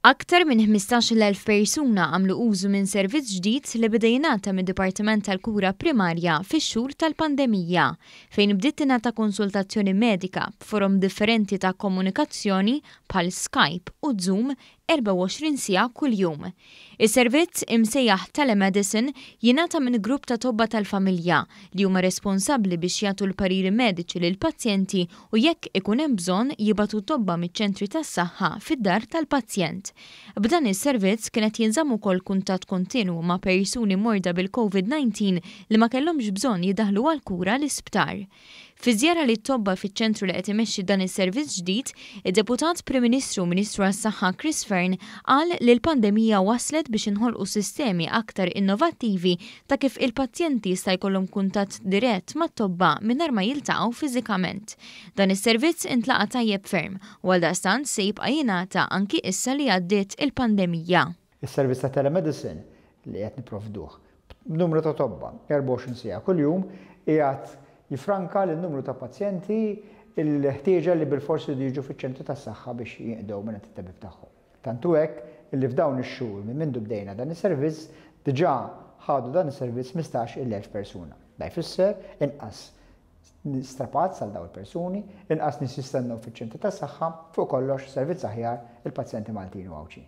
Aktar minn 15,000 persuna għamlu użu minn servizz ġdid li beda jingħata mid-Dipartiment tal-Kura Primarja fix-xhur tal-pandemija, fejn bdiet tingħata konsultazzjoni medika b'forom differenti ta' komunikazzjoni bħal Skype u Zoom 24 siegħa kuljum. Is-servizz, imsejjaħ telemedicine, jingħata minn grupp ta' tobba tal-familja, li huma responsabbli biex jagħtu l-pariri mediċi lill-pazjenti u jekk ikun hemm bżonn jibagħtu tobba miċ-ċentri tas-saħħa fid-dar tal-pazjent. B'dan is-servizz kien qed jinżamm ukoll kuntatt kontinwu ma' persuni morda bil-Covid-19 li ma kellhomx bżonn jiddaħlu għall-kura l-isptar. Fi żjara lit-tobba fiċ-ċentru li qed imexxi dan is-servizz ġdid, id-Deputat Prim Ministru u Ministru għas-Saħħa Chris Fearne qal li l-pandemija wasslet biex inħolqu sistemi aktar innovattivi ta' kif il-pazjenti jista' jkollhom kuntatt dirett mat-tobba mingħajr ma jiltaqgħu fiżikament. Dan is-servizz intlaqa' tajjeb ferm u għaldaqstant se jibqa' jingħata anki issa li għaddiet il-pandemija. Is-servizz ta' telemedicine li qed nipprovduh b'numru ta' tobba 24 siegħa kuljum qiegħed jiffranka lil numru ta' pazjenti l-ħtieġa li bilfors iridu jiġu fiċ-ċentru tas-saħħa biex jinqdew mingħand it-tabib tagħhom. Tant hu hekk li f'dawn ix-xhur minn mindu bdejna dan is-servizz diġà ħadu dan is-servizz 15-il elf persuna. Da jfisser inqas strapazz għal dawn il-persuni, inqas nies jistennew fiċ-ċentri tas-saħħa, fuq kollox servizz aħjar il-pazjenti Maltin u Għawdxin.